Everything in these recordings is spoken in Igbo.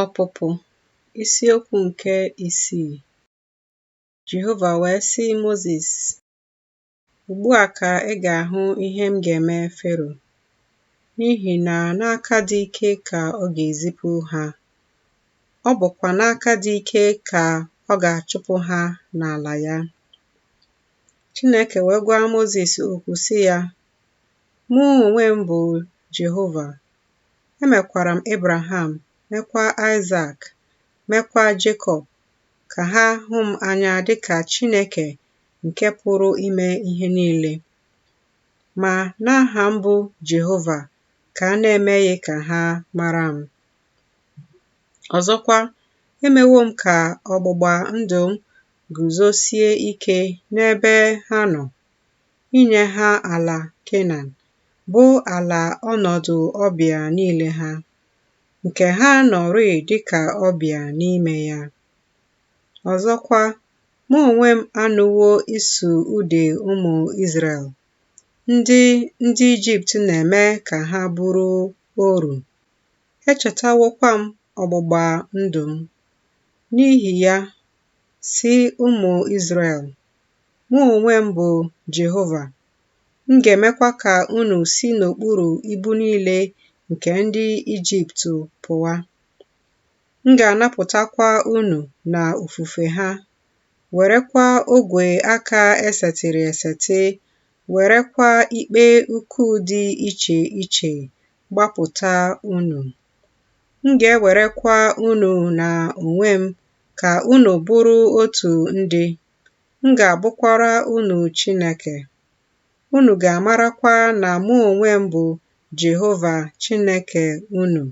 Ọpụpụ isiokwu nke isii Jehova wee sị Mozis, Ugbu a ka ị ga-ahụ ihe m ga-eme Fero, n'ihi na n'aka dị ike ka ọ ga-ezipụ ha, ọ bụkwa n'aka dị ike ka ọ ga-achụpụ ha n'ala ya. Chineke wee gwa Mozis okwu sị ya, Mụ onwe m bụ Jehova, Emekwara m Ebraham, mekwa Aịsak, mekwa Jekọb, ka ha hụ m anya dị ka Chineke nke pụrụ ime ihe niile. Ma n'aha m bụ Jehova ka a na-emeghị ka ha mara m. Ọzọkwa, emewo m ka ọgbụgba ndụ m guzosie ike n'ebe ha nọ. inye ha ala Kenan, bụ ala ọnọdụ ọbịa niile ha, nke ha nọrịị dịka ọbịa n'ime ya. Ọzọkwa, mụ onwe m anụwo ịsụ ude ụmụ Izrel, ndị ndị Ijipt na-eme ka ha bụrụ oru. Echetawokwa m ọgbụgba ndụ m. N'ihi ya, sị ụmụ Izrel, Mụ onwe m bụ Jehova, m ga-emekwa ka unu si n'okpuru ibu niile nke ndị Ijipt pụwa. M ga-anapụtakwa unu na ofufe ha, werekwa ogwe aka esetịrị esetị, werekwa ikpe ukwu dị iche iche gbapụta unu. M ga-ewerekwa unu na onwe m ka unu bụrụ otu ndị, m ga-abụkwara unu Chineke. Unu ga-amarakwa na mụ onwe m bụ Jehova Chineke unu,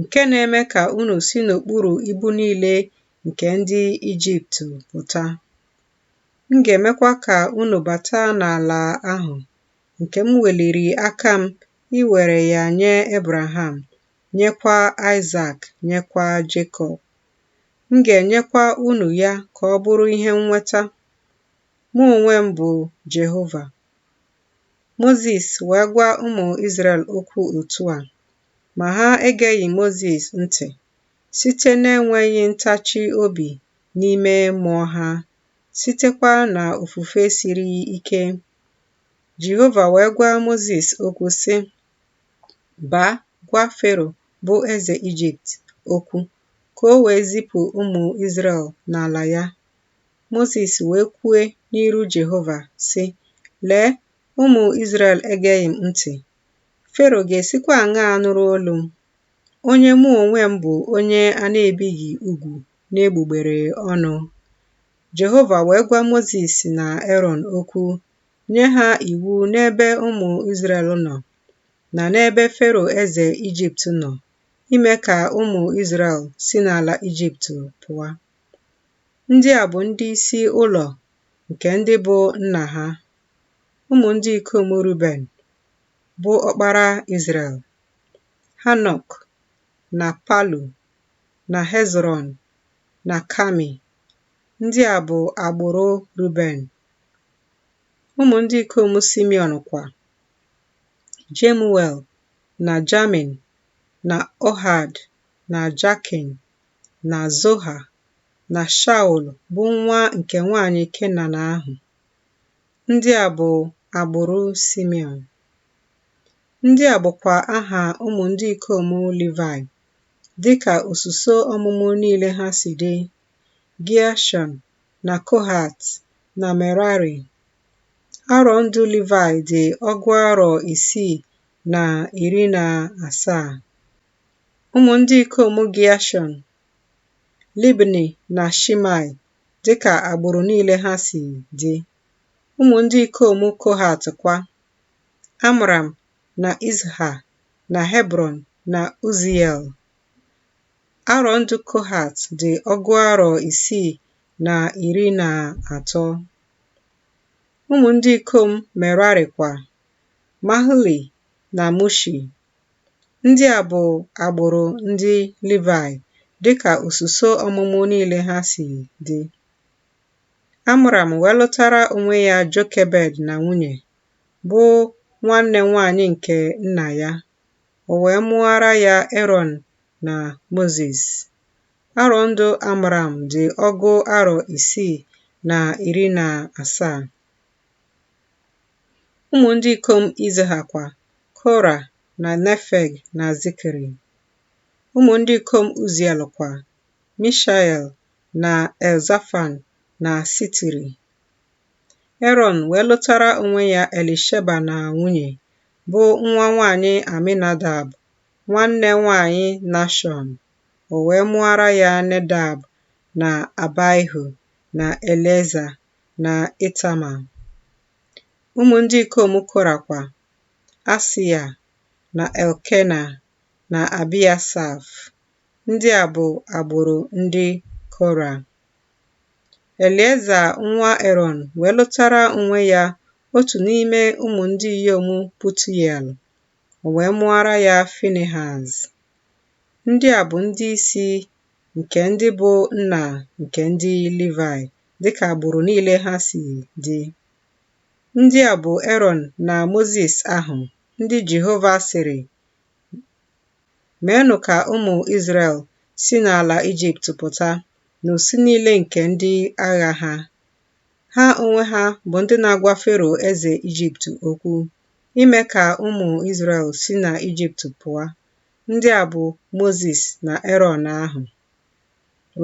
nke na-eme ka unu si n'okpuru ibu niile nke ndị Ijipt pụta. M ga-emekwa ka unu bata n'ala ahụ nke m weliri aka m iwere ya nye Ebraham nyekwa Aịsak, nyekwa Jekọb. M ga-enyekwa unu ya ka ọ bụrụ ihe nnweta. Mụ onwe m bụ Jehova. Mozis wee gwa ụmụ Izrel okwu otu a, ma ha egeghị Mozis ntị site n'enweghị ntachi obi n'ime mmụọ ha, sitekwa na ofufe siri ike. Jehova wee gwa Mozis okwu sị, Baa, gwa Fero bụ eze Ijipt okwu, ka o wee zipụ ụmụ Izrel n'ala ya. Mozis wee kwue n'iru Jehova, sị, Lee, ụmụ Izrel egeghị m ntị. Fero ga-esikwa aṅaa nụrụ olu m, onye mụ onwe m bụ onye a na-ebighị ugwu n'egbugbere ọnụ? Jehova wee gwa Mozis na Erọn okwu, nye ha iwu n'ebe ụmụ Izrel nọ na n'ebe Fero eze Ijipt nọ ime ka ụmụ Izrel si n'ala Ijipt pụọ. Ndị a bụ ndị isi ụlọ nke ndị bụ nna ha, ụmụ ndị ikom Ruben, bụ ọkpara Izrel, Hanok na Palu na Hezrọn na Kami. Ndị a bụ agbụrụ Ruben. Ụmụ ndị ikom Simeon kwa, Jemuel na Jamin na Ohad na Jakin na Zoha na Shaul bụ nwa nke nwanyị Kenan ahụ. Ndị a bụ agbụrụ Simeon. Ndị a bụkwa aha ụmụ ndị ikom Livayị dịka osuso ọmụmụ niile ha si dị Gịashọn na Kohat na Merari. Arọ ndụ Livayị dị ọgụ arọ isii na iri na asaa. Ụmụ ndị ikom Gịashọn, Libni na Shimei dịka agbụrụ niile ha si dị. Ụmụ ndị ikom Kohat kwa, Amram na Izha na Hebrọn na Uziel. Arọ ndụ Kohat dị ọgụ arọ isii na iri na atọ. Ụmụ ndị ikom Merari kwa, Mahli na Mushi. Ndị a bụ agbụrụ ndị Livayị dịka osuso ọmụmụ niile ha si dị. Amram wee lụtara onwe ya Jokebed na nwunye, bụ nwanne nwanyị nke nna ya. O wee mụara ya Erọn na Mozis. Arọ ndụ Amram dị ọgụ arọ isii na iri na asaa. Ụmụ ndị ikom Izha kwa, Kora na Nefeg na Zikri. Ụmụ ndị ikom Uziel kwa, Mishael na Elzafan na Sitiri. Erọn wee lụtara onwe ya Elisheba na nwunye, bụ nwa nwaanyị Aminadab, nwanne nwaanyị Nashọn. O wee mụọra ya Nedab na Abaihu na Elieza na Itama. Ụmụ ndị ikom Kora kwa, Asia na Elkena na Abiasaf. Ndị a bụ agbụrụ ndị Kora. Elieza nwa Erọn wee lụtara onwe ya otu n'ime ụmụ ndị inyom Putiel, o wee mụọra ya Finihaz. Ndị a bụ ndị isi nke ndị bụ nna nke ndị Livaị dị ka agbụrụ niile ha si dị. Ndị a bụ Erọn na Mozis ahụ ndị Jehova sịrị Meenụ ka ụmụ Izrel si n'ala Ijipt pụta, n'usu niile nke ndị agha ha. Ha onwe ha bụ ndị na-agwa Fero eze Ijipt okwu, ime ka ụmụ Izrel si na Ijipt pụọ. Ndị a bụ Mozis na Erọn ahụ.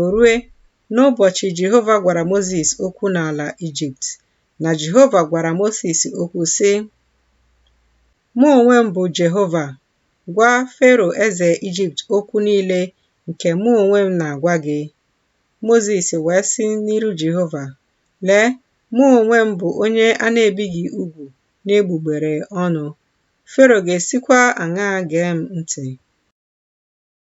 O rue, n'ụbọchị Jehova gwara Mozis okwu n'ala Ijipt, na Jehova gwara Mozis okwu, sị, Mụ onwe m bụ Jehova, Gwa Fero eze Ijipt okwu niile nke mụ onwe m na-agwa gị. Mozis wee sị n'iru Jehova, Lee, mụ onwe m bụ onye a na-ebighị ugwu n'egbugbere ọnụ, Fero ga-esikwa aṅaa gee m ntị?